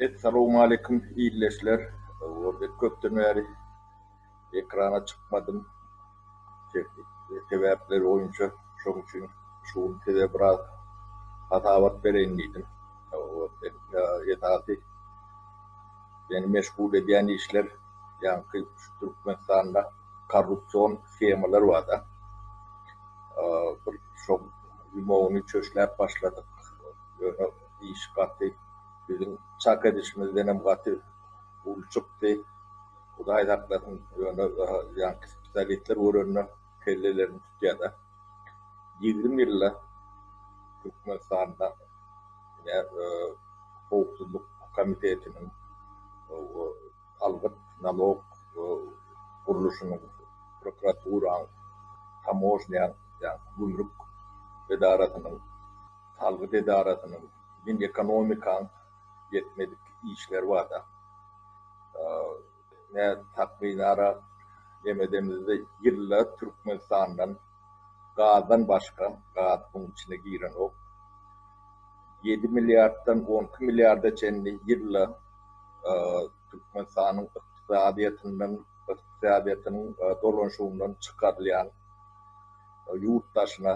Essalowmaleýkum ildeşler. Gördik köpden bäri ekrana çykmadym. Tehniki sebäpler boýunça şoň üçin şu gün size biraz hasabat bereýin diýdim. Esasy meni meşgul edýän işler ýaňky şu Türkmenistanda korrupsion shemalar barda. Bir şoň ýumagyny çöşläp başladyk. Iş gaty biziň çak edişimizdenem gaty uly çykdy. Hudaý saklasyn, ýöne ýaňky spesialistler görende kellelerini tutýada. Ýigrimi ýylda Türkmenistanda ine howpsuzlyk komitetiniň salgyt, nalog, gurluşynyň, prokuraturanyň, tamožnýanyň, ýagny gümrük edarasynyň, Salgyt edarasynyň diňe ekonomikaň ýetmedik işleri barda takmynara jem edemizde ýylla Türkmenistandan gazdan başga, gaz buň içine girenok, ýedi milliarddan on iki milliarda çenli ýylla Türkmenistanyň ykdysadyýetinden, ykdysadyýetiniň dolanyşygyndan çykarylýan ýurt daşyna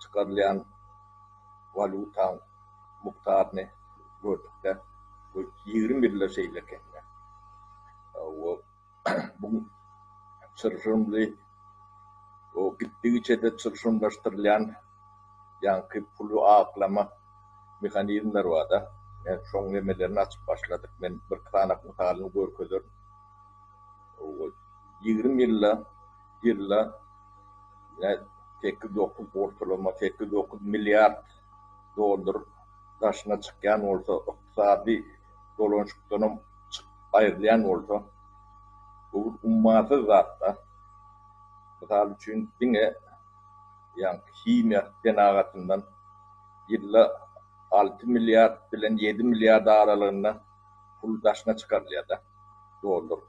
çykarylýan walýutaň mukdaryny gördükde bu ýigrimi ýylda şeýle ekeni. Hawa, bu çylşyrymly, o gitdigiçe-de çylşyrymlaşdyrylýan ýaňky puly aklama mehanizmleri bar-da. Men şoň nemelerini açyp başladyk. Men birki sanaw mysalyny görkezerin. Hawa, ýigrimi ýylda ýylda sekiz dokuz ortalama sekiz dokuz milliard dollar daşyna çykýan bolsa ykdysady dolanşykdanam aýrylýan bolsa bu ummasyz zatda mysal üçin diňe ýaňky himiýa senagatyndan ýylda alty milliard bilen ýedi milliard aralygynda pul daşyna çykarylýar-da, dollar.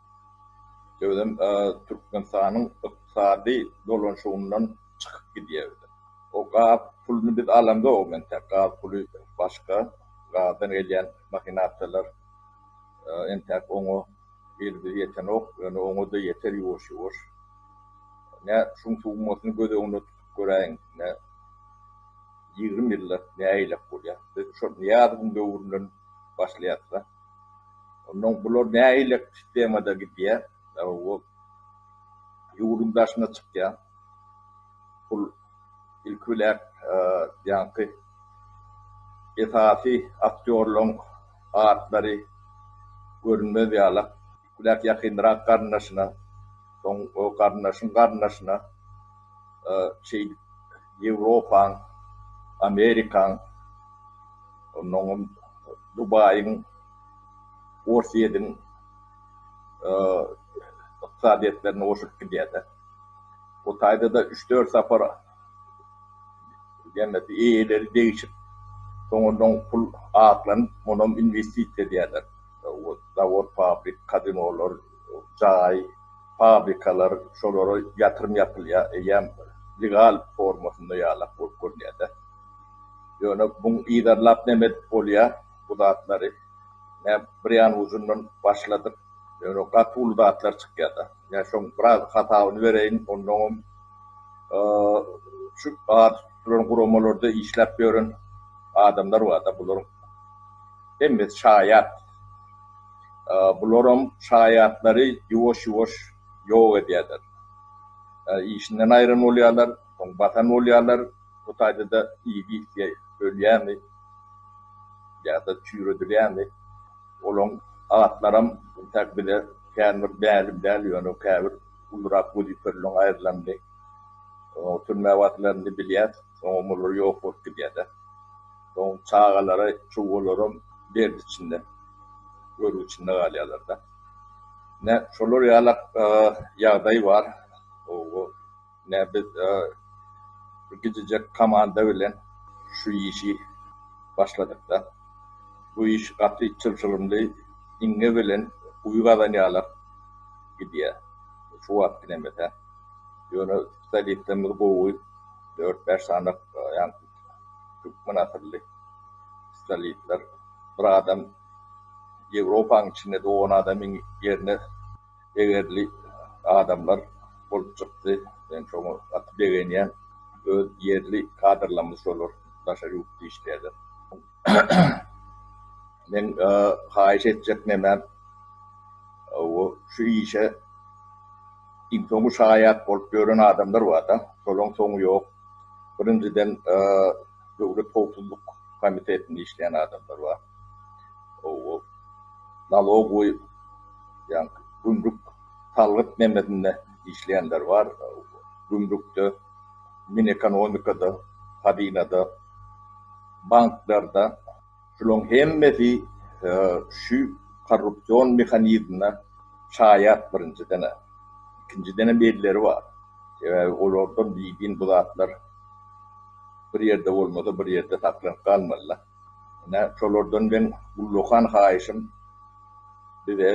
Sebedem Türkmenistanyň ykdysady dolanşygyndan çykyp gidýär. O gaz puluny biz alamzogam entek. Gaz puly başga, gazdan gelýän mahinasiýalar entek oňa elimiz ýetenok, ýöne oňa-da ýeter ýuwaş-ýuwaş. Nä şuň summasyny göz öňünde tutup göräýiň, ýigrimi ýylda nägilek bolýar. Biz şol Nyýazowyň döwründen başlaýarsa, onda bular nähili sistemada gidýär, ýa-da ýurduň daşyna çykýar. Pul ilki bilen ýaňky esasy aktýorlaryň atlary görünmez ýalak. Küläk ýakynrak garyndaşyna, soň o garyndaşyň garyndaşyna şeýdip Ýewropaň, Amerikaň, onnoňam Dubaýyň, Orsýediň ykdysadyýetlerine goşulyp gidýär-de. O taýda-da üç-dört sapar Jemesi eýeleri degişip, soňundan pul aklanyp, munam inwestisiýa edýärler. Zawod, fabrik, kazinolar, jaý, fabrikalar, şolara ýatyrym ýapylýar. Eýýäm legal formasynda ýalak bolup görünýär-dä. Ýöne muň yzarlap näme edip bolýar bu zatlary? Nä bir ýan ujundan başladyk. Ýöne gaty uly zatlar çykýar-da. Nä şoň biraz hasabyny bereýin, onnoňam. Şu at tutduran guramalarda işläp ýören adamlar barda, bularyň hemmesi şaýat. Bularam şaýatlary ýuwaş-ýuwaş ýok edýärler. Işinden aýran bolýarlar, soň basan bolýarlar, bu taýda-da iýgit ýa ölýärmi, ýa-da çüýredilýärmi, olaryň atlaram intäk bize kän bir mälim däl, ýöne käbir Guldurak gözi körülen aýrylandy. Oňa türmä basylandy bilýär. Soňam olar ýok bolup gidýär-de. Soň çagalary, çuwalaram dert içinde, görgi içinde galýarlar-da. Ine, şolar ýalak ýagdaý bar. Ine, biz bir gijejek komanda bilen şu işi başladyk-da. Bu iş gaty çylşyrymly, iňňe bilen guýy gazanýarlar. gidýär. Şu wagt gidemese. Ýöne spesialistlerimiz gowy. Dört-bäş sany ýaňky türkmen asylly spesialistler. Bir adam Ýewropanyň içinde dogan adamyň ýerine degerli adamlar bolup çykdy. Men şoňa gaty begenýän. Öz ýerli kadrlarymyz şolar. Daşary ýurtda işleýärler. Men haýyş etjek nämem, şu işe iň soňy şaýat bolup ýören adamlar bar-da, şolaryň soňy ýok. Birinjiden, Döwlet howpsuzlyk komitetinde işleýän adamlar bar. Hawa, nalog we gümrük, salgyt nemesinde işleýänler bar. Gümrükde, minekonomikada, hazinada. Banklarda şulaň hemmesi şu korrupsion mehanizmde şaýat birinjiden-ä. Ikinjidenem elleri bar. Sebäbi olardan bidin bu zatlar bir ýerde bolmasa bir ýerde saklanyp galmaly-da. Ine şolardan meň ullakan haýyşym bize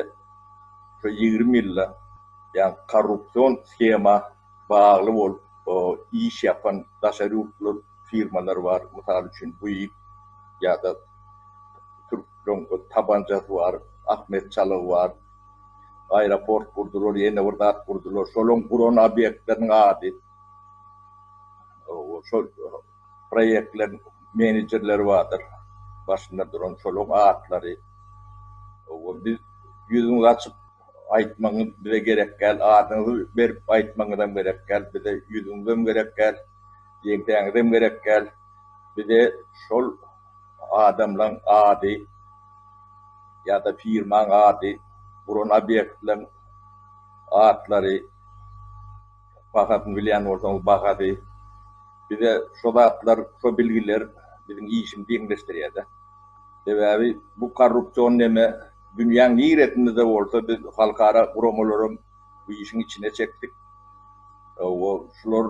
şu ýigrimi ýylda ýa korrupsion shema, bagly bolup iş ýapan daşary ýurtly firmalar bar. Mysal üçin Buig ýa-da türkleriň tabanjasy bar, Ahmet Çalygy bar. Aeroport gurdular, ýene bir zat gurdular. Şolaryň guran obýektleriniň ady. Şol proýektleriň menejerleri bardyr. Başynda duran şolaryň atlary. Biz ýüzümizi açyp. Aýtmagyňyz bize gerek däl, adyňyzy berip aýtmagyňyzam gerek däl, bize ýüzüňizem gerek däl, ýeňsäňizem gerek däl, bize şol adamlaň ady ýa-da firmaň ady, guran obýektleň atlary, bahasyny bilýän bolsaňyz bahasy, bize şo zatlar, şo bilgiler biziň işimizi ýeňilleşdirýär-de. Sebäbi bu korrupsion neme. Dünýäň niresinde-de bolsa biz halkara guramalaram bu işiň içine çekdik. Hawa, şular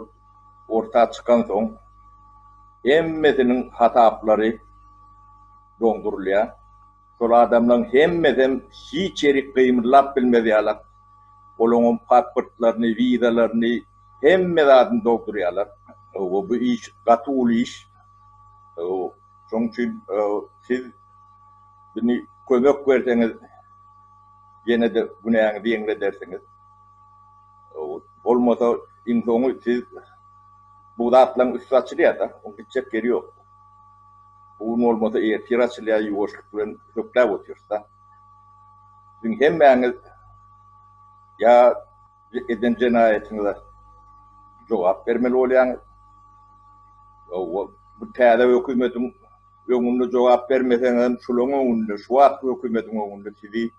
orta çykansoň, hemmesiniň hasaplary doňdurylýar. Şol adamlaryň hemmesem hiç ýeri gymyllap bilmez ýaly, olaňam pasportlaryny, wizalaryny, hemme zadyny doldurýarlar. Hawa, bu iş gaty uly iş. Hawa, şoň üçin siz Bini kömek berseňiz ýenede günäňizi ýeňledersiňiz. Bolmasa iň soňy siz bu zatlaň üsti açylýada, oň gitjek ýeri ýok. Bu gün bolmasa ertir açylýar ýuwaşlyk bilen hökläp otyrsda. Siziň hemmäňiz ýa eden jenaýatyňyza jogap bermeli bolýaňyz. Bu täze hökümetiň Öňünde jogap bermeseňem, şulaň öňünde, şu wagtky hökümetiň öňünde sizi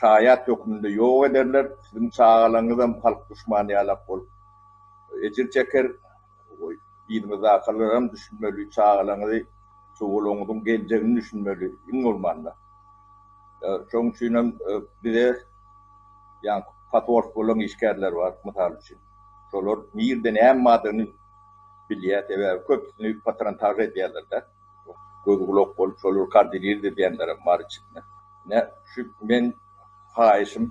şaýat hökmünde ýok ederler, siziň çagalaryňyzam halk duşmany ýalak bolup ejir çeker, yzyňyzdakalaram düşünmeli, çagalaryňyzy, çowularyňyzyň geljegini düşünmeli, iň bolmanda. Şonuň üçinem bize ýaňky patrul boluň işgärleri bar, mysal üçin. Şolar nirde näme badygyny. Bilýär, sebäbi köpüsini patrontag edýärler-dä. Göz gulak bolup şolary kardilir de diýenlerem bar içinde. Ine, şu men haýyşym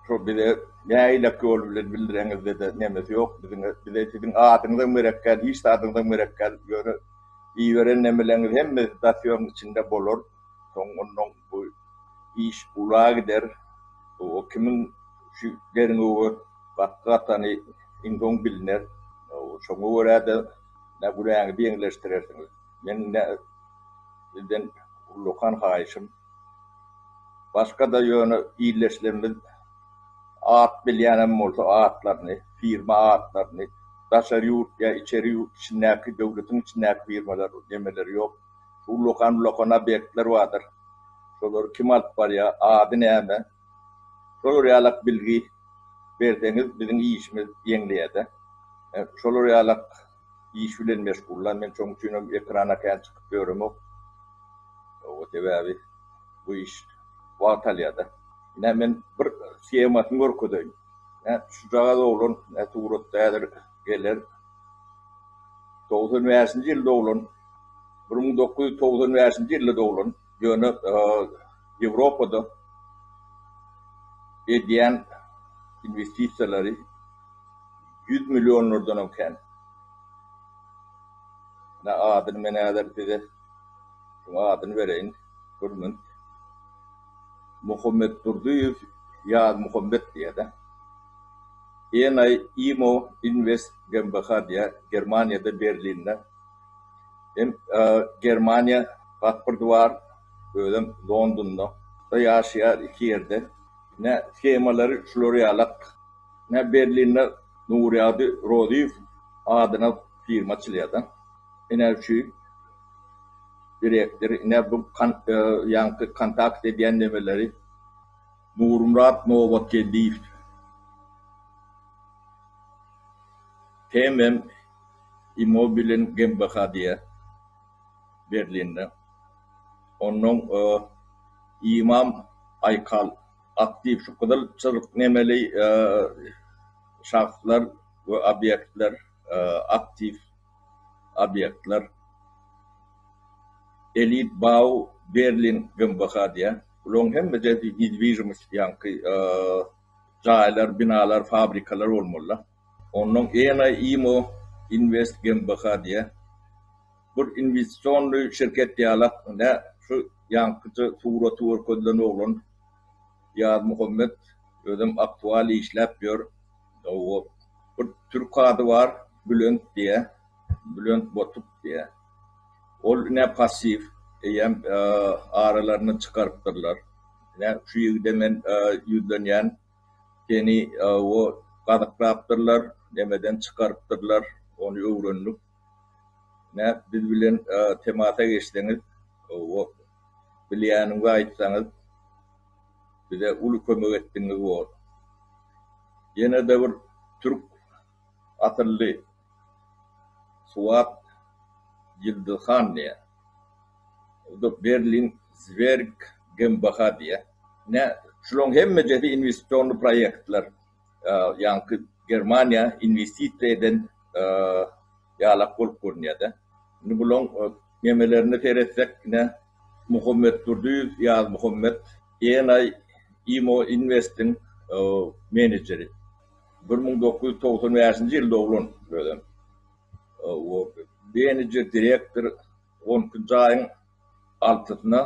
şo bize näilaky ýol bilen bildireňizde-de nemesi ýok biziň, bize siziň adyňyzam gerekgäl, hiç zadyňyzam gerekgäl, ýöne iberen nemeleňiz hemmesi dasiýoň içinde bolar, soň onnoň bu iş ula gider, o kimiň şu derňewi. Gakgy atany iň soň biliner. Şoňa görä-de, nä günäňizi ýeňilleşdirersiňiz. Meniň nä sizden ullakan haýyşym, başga-da ýöne ildeşlerimiz at bilýänem bolsa atlaryny, firma atlaryny, daşary ýurt ýa içeri ýurt içindäki, döwletiň içindäki firmalar nemeleri ýok. Ullakan-ullakan obýektler bardyr. Şolary kim alyp barýar, ady näme? Şolar ýalak bilgi berseňiz biziň işimiz ýeňleýädä. Şolar ýalak iş bilen meşgullan. Men şoň üçinem ekrana kän çykyp ýöremok. Oba sebäbi bu iş wagt alýada. Ine men bir shemasyny görkezeýin. Ine şujagaz oglan ine suratda häzir geler. Togsan bäşinji ýyl doglan. Bir müň dokuz ýüz togsan bäşinji ýylda doglan. Ýöne Ýewropada edýän inwestisiýalary ýüz millionlardanam kän. Ine adyny men häzir size şuň adyny bereýin, Gürmünt. Muhammedurdyýew Ýazmuhammet diýýär-de. ENI-IMO Invest GmbH diýýär, Germaniýada Berlinde. Hem Germaniýa pasporty bar, özem Londonda ýaşaýar iki ýerde. Ine skemalary şular ýalak. Ine Berlinde Nurýagdy Rozyýew adyna firma açylýar da. Ine şu direktor, ine bu ýaňky kontakt edýän nemeleri Nurmyrat Nobatgeldiýew. Hem hem Immobilin GmbH diýýär, Berlinde. Onnoň Imam Aýkal aktiw şu gyzyl çyzyk nemeli şahslar we obýektler, aktiw obýektler. Elit Bau Berlin GmbH diýýär. Bularyň hemmesi nedwizhimist ýaňky jaýlar, binalar, fabrikalar bolmalydyr. Onuň ENA IMO Invest GmbH diýýär. Bu inwestisionnyý şirket ýalak nä şu ýaňkyja suraty görkezilen oglan Ýazmuhammet özem aktual işläp ýör. Gowy. Bir türk ady bar Bülent diýýä. Bülent Botuk diýýä. Ol ine passiw eýýäm aralaryndan çykarypdyrlar. Ine şu ýigide men ýüzlenýän. Seni o gazyklapdyrlar, nämeden çykarypdyrlar, ony öwrendik. Näp biz bilen temasa geçseňiz, o bilýäniňizi aýtsaňyz, bize uly kömek etdiňiz bor. Ýene-de bir türk Asylly suwap Ýyldyz han diýýär. Bu da Berlin Zwerg GmbH diýýär. Ine, şularyň hemmejesi inwestisionly proýektler. Ýaňky Germaniýa inwestisiýa eden ýalak bolup görünýär-de. Indi bularyň memelerine seretsek, ine, Muhammetdurdyýew Ýazmuhammet, ENI, Imo Invest-iň menejeri. Bir müň dokuz ýüz togsan bäşinji ýyl doglan özem. O Benije direktor on iki nji aýyň altysyna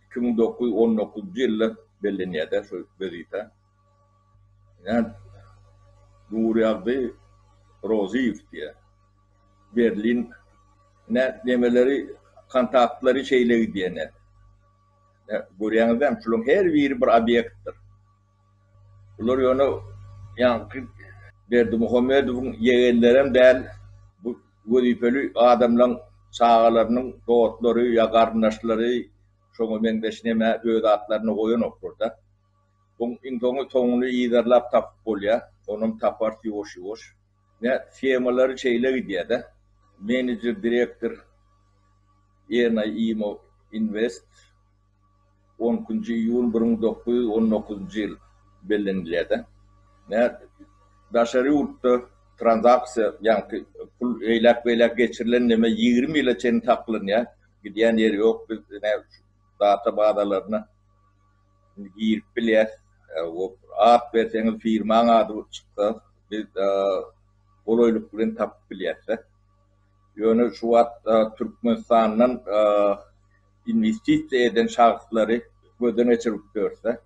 iki müň dokuz ýüz on dokuzynjy ýylda bellenýär-de şu wezipä. Ýa Nurýagdy Rozyýew diýýär. Berlin nä nemeleri kontaktlary şeýle gidýär nä. Görýäňiz dämi şularyň her biri bir obýektdir. Bular ýöne ýaňky Berdimuhamedowyň ýegenlerem däl, bu wezipeli adamlaň çagalarynyň dostlary ýa garyndaşlary şoňa meňzeş neme öz atlaryny goýanoklar-da. Buň iň soňy soňuny yzarlap tapyp bolýar, onam taparys ýuwaş-ýuwaş. Ine, schemalary şeýle gidýär-de, menejer, direktor, Ýernaý Imo Invest. On nji iýul bir müň dokuz ýüz on dokuzynjy ýyl bellenilýärde. Daşary ýurtda tranzaksiýa ýaňky pul eýläk beýläk geçirilen neme ýigrimi ýyla çenli saklanýar. Gidýän ýeri ýok biz ine şu data bazalaryna indi girip bilýäs. At berseňiz firmaň ady çyksa biz golaýlyk bilen tapyp bilýäsde. Ýöne şu wagt Türkmenistandan inwestisiýa eden şahslary gözden geçirip görse,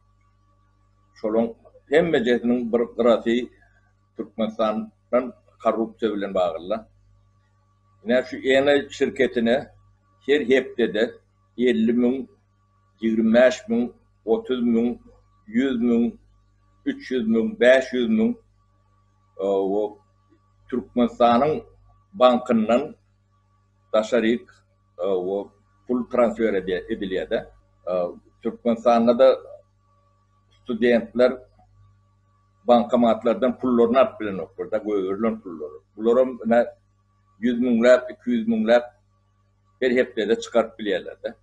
şolaryň hemmejesiniň bir gyrasy Türkmenistandan korrupsiýa bilen bagly. Ine, şu Ene şirketine her hepdede elli müň, ýigrimi bäş müň, otuz müň, ýüz müň, üç ýüz müň, bäş ýüz müň Türkmenistanyň bankyndan daşaryk pul transfer edilýärde türkmenistandada studentler bankomatlardan pullaryny alyp bilenoklarda göberilen pullary bularam ine ýüz müňläp iki ýüz müňläp her hepdede çykaryp bilýärlerde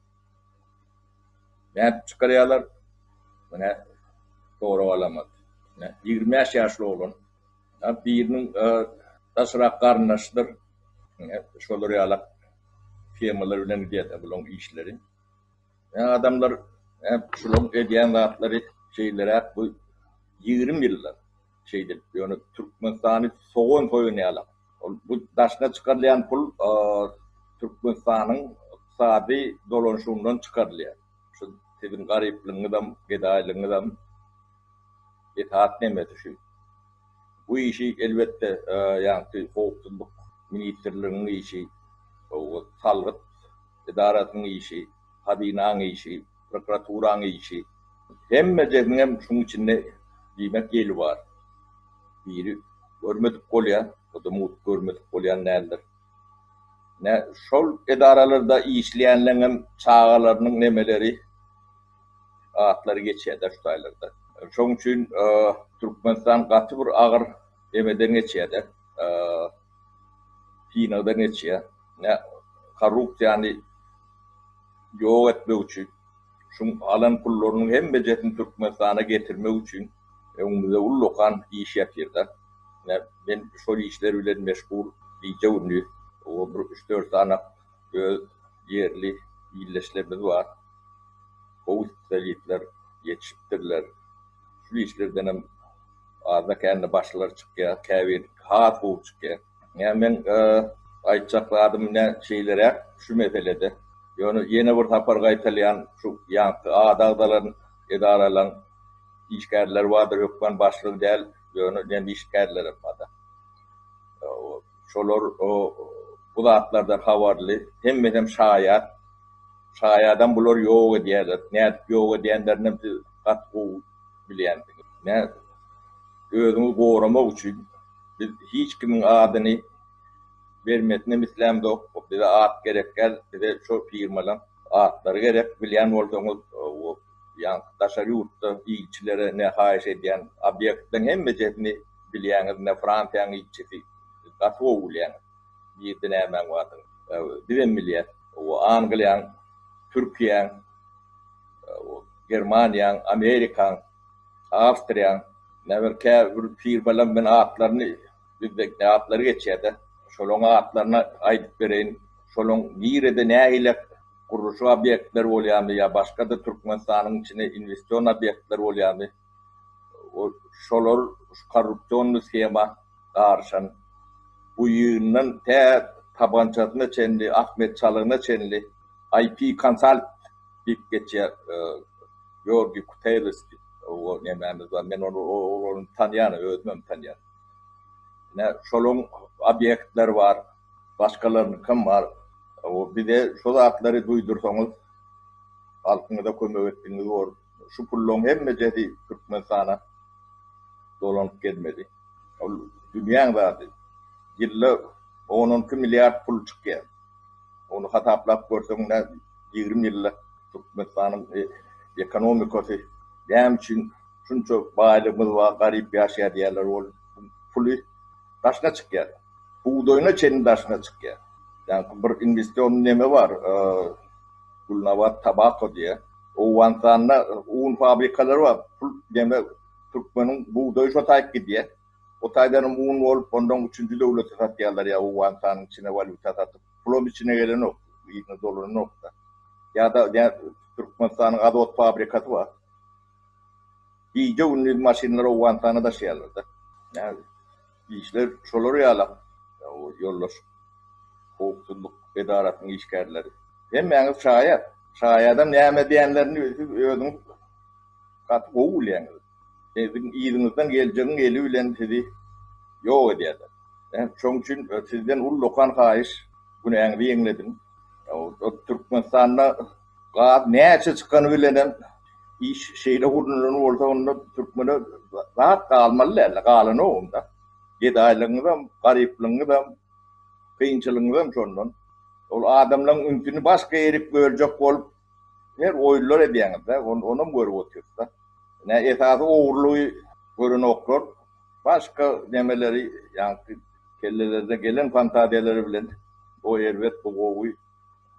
nädip çykarýarlar ine sorap alamat ýigrimi bäş ýaşly oglan Ýa biriniň daşrak garyndaşydyr. Şolar ýalak temalar bilen gidýär-de bularyň işleri. Ýa adamlar şularyň edýän zatlary şeýleräk bu ýigrimi ýyllap şeýdip ýöne Türkmenistany sogan soýan ýalak. Ol bu daşyna çykarylýan pul Türkmenistanyň ykdysady dolanşygyndan çykarylýar. Şu siziň garyplygyňyzam, gedaýlygyňyzam. esas nemesi şu. Bu işi elbetde ýagty howpsuzlyk ministrliginiň işi, salgyt edarasynyň işi, hazynanyň işi, prokuraturanyň işi, hemmejesiň hem şuň içinde diýmek ýeli bar. Biri görmedik bolýa, o-da mugt görmedik bolýan däldir. Ine, şol edaralarda işleýänleň hem çagalarynyň nemeleri. atlary geçýär daş taýlarda. Şoň üçin Türkmenistan gaty bir agyr emeden geçýär-de, synagdan geçýär. Nä korrupsiýany ýok etmek üçin, şuň alan pullarynyň hemmejesini Türkmenistana getirmek üçin öňümizde ullakan iş ýatyr-da. Nä men şol işler bilen meşgul gije-gündiz. O bir üç-dört sany Öz ýerli ildeşlerimiz bar. Gowy spesialistler ýetişipdirler. Şu işlerdenem azda-kände başlary çykýar, käbir has gowy çykýar. Ýa meň aýtjak zadym ine şeýleräk şu meselede. Ýöne ýene bir sapar gaýtalýan, şu ýaňky ada agzalan edaralaryň işgärleri bardyr, hökman başlygy däl, ýöne nem işgärlerem barda. Şolar bu zatlardan habarly, hemmesem şaýat. Şaýadam bular ýok edýärler. Nädip ýok edýänlerinem siz gaty gowy bilýänsiňiz. Nädip? Özüňi goramak üçin. Biz hiç kimiň adyny bermesinem islämzok. Bize at gerek däl, bize şo firmalaň atlary gerek. Bilýän bolsaňyz, Ýaňky daşary ýurtda ilçilere ne haýyş edýän obýektiň hemme jetini bilýäňiz ne Fransiýanyň ilçisi gaty gowy bilýän nirde nämäň bardygyny bizem bilýäs Angliýaň Türkiýäň Germaniýaň Amerikaň Awstriýaň nebir käbir firmalar men atlaryny bizde atlary geçýärde şolaň atlaryny aýdyp bereýin şolaň nirede nähili gurluşyk obýektleri bolýarmy ýa başga-da Türkmenistanyň içine inwestion obýektleri bolýarmy, şolar şu korrupsionnyý shema garyşan, buýyndan tä tabançasyna çenli, Ahmet Çalygyna çenli IP Consult diýip geçýär, Georgiý Kutelis diýip, o nemämiz bar, men ony olaryny tanýan, özümem tanýan. Ine, şolaryň obýektleri bar. Başgalarynykam bar. Hawa, bize şu zatlary duýdursaňyz, halkyňyza kömek etdigiňiz bor. Şu pullaryň hemmejesi Türkmenistana dolanyp gelmeli. Ol dünýäň zady. Ýylda on-on iki milliard pul çykýar. Ony hasaplap görseň, nä ýigrimi ýylda Türkmenistanyň ekonomikasy näme üçin şunça baýlygymyz bar, garyp ýaşaýar diýýärler, ol puly daşyna çykýar. Bugdaýyna çenli daşyna çykýar. Ýaňky bir inwestion neme bar, Gulnabat Tabako diýýä. Owganystanda un fabrikalary bar. Pul neme türkmeniň bugdaýy şo taýyp gidýä. O taýdanam un bolup, ondan üçünji döwlete satýarlar ýa Owganystanyň içine walýuta satyp. Pulam içine gelenok, yzyna dolananok-da. Ýa-da Türkmenistanyň Azot fabrikasy bar. Gije gündiz maşynlary Owganystana daşaýarlarda. Nädip? Işler şolar ýala ýoldaş howpsuzlyk edarasynyň işgärleri. Hemmäňiz şaýat. Şaýadam näme diýenlerini siz özüňiz gaty gowy bilýäňiz. Siziň yzyňyzdan geljegiň eli bilen sizi ýok edýärler. Şoň üçin sizden ullakan haýyş günäňizi ýeňlediň. Türkmenistanda Gaz näçe çykany bilenem iş şeýle gurnalan bolsa onda türkmene zat galmaly däldi, galanogunda. Gedaýlygyňyzam, garyplygyňyzam, kynçylygyňyzam şondan. Ol adamlaryň ünsüni başga ýerik böljek bolup her oýunlar edýäňizde, onam görüp otyrysda. Ine esasy ogurlygy görenoklar, başga nemeleri ýaňky kellelerde gelen fantaziýalary bilen o erbet bu gowy.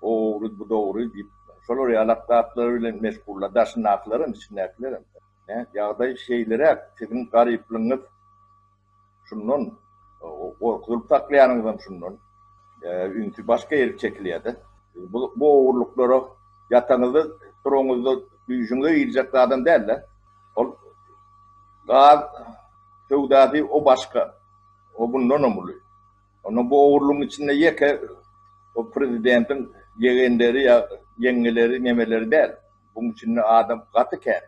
O ogry, bu dogry diýip, şolar ýalak zatlar bilen meşgullar, daşyndakylaram, içindäkilerem. Hä, ýagdaý şeýleräk, siziň garyplygyňyz şundan, gorkuzylyp saklaýanyňyzam şundan. Ünsi başga ýere çekilýär-de. Bu ogurlyklara ýataňyzda, turaňyzda düýşüňize girjek zadam däl-de. Ol gaz söwdasy, o başga. O bundanam uly. Onda bu ogurlygyň içinde ýeke o prezidentiň ýegenleri ýa ýeňňeleri nemeleri däl. Buň içinde adam gaty kän.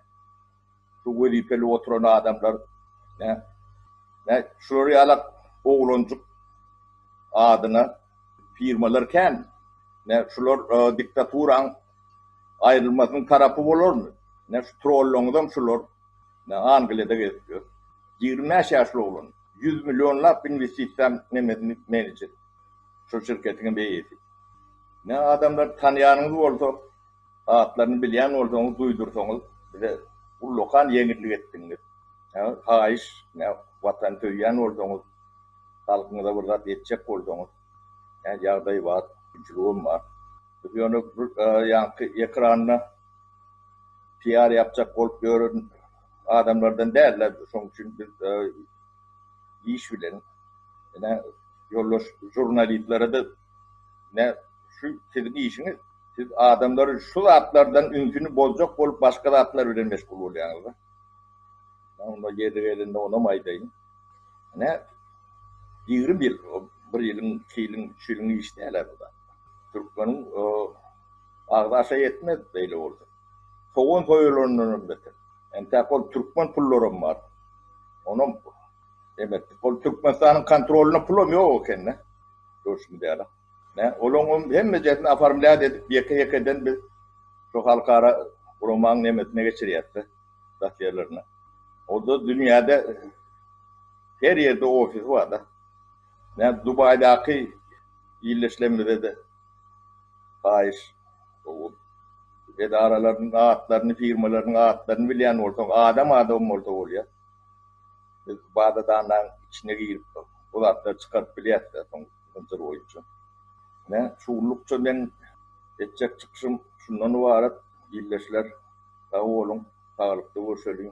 Şu wezipeli oturan adamlar nä nä şular ýalak oglanjyk adyna firmalar kän. Nä şular diktaturaň aýrylmasynyň tarapy bolarmy? Nä şu trollaňyzam şular. Men Angliýada gezip ýör. Ýigrimi bäş ýaşly oglan. Ýüz millionlap inwestisiýa nemesini menejer. Şol şirketiňem beýesi. Men adamlary tanýanyňyz bolsa, atlaryny bilýän bolsaňyz duýdursaňyz bize ullakan ýeňillik etdiňiz. Haýyş, Watany söýýän bolsaňyz, halkyňyza bir zat etjek bolsaňyz. Nädip ýagdaý bar, güýçlügem bar. Biz ýöne bir ýaňky ekranda PR ýapjak bolup ýören adamlardan dälde. Şoň üçin biz iş bilen ine ýoldaş žurnalistlere-de ine şu siziň işiňiz. Siz adamlaryň şu zatlardan ünsüni bozjak bolup başga zatlar bilen meşgul bolýaňyz-da. Men onda ýeri gelende onam aýdaýyn. Ine, ýigrimi ýyl, bir ýylyň, iki ýylyň, üç ýylyň işi däl-ä bu zat. Türkmeniň agzy-aşa ýetmez beýle bolsa. Sogan soýulandanam beter. Entäk ol türkmen pullaram bar. Onam emetdik. Ol Türkmenistanyň kontrolynda pulam ýok eken-dä, görşümiz ýaly. Ine, olaňam hemmejesini oformlýat edip, ýeke-ýekeden biz şu halkara guramanyň nemesine geçirýäs-de. dat ýerlerine. Onda dünýäde her ýerde ofis barda. Näme Dubaýdaky ýerleşlemizede haýyş edaralaryň atlaryny, firmalaryň atlaryny bilýän bolsaň, adam adam bolsa bolýar. Biz baza-danlaň içine girip, bu zatlary çykaryp bilýäs-de soň. Hynjyr boýunça. Ine, şugunlukça meň etjek çykyşym şundan ybarat, ildeşler. Sag boluň, saglykda görşeliň.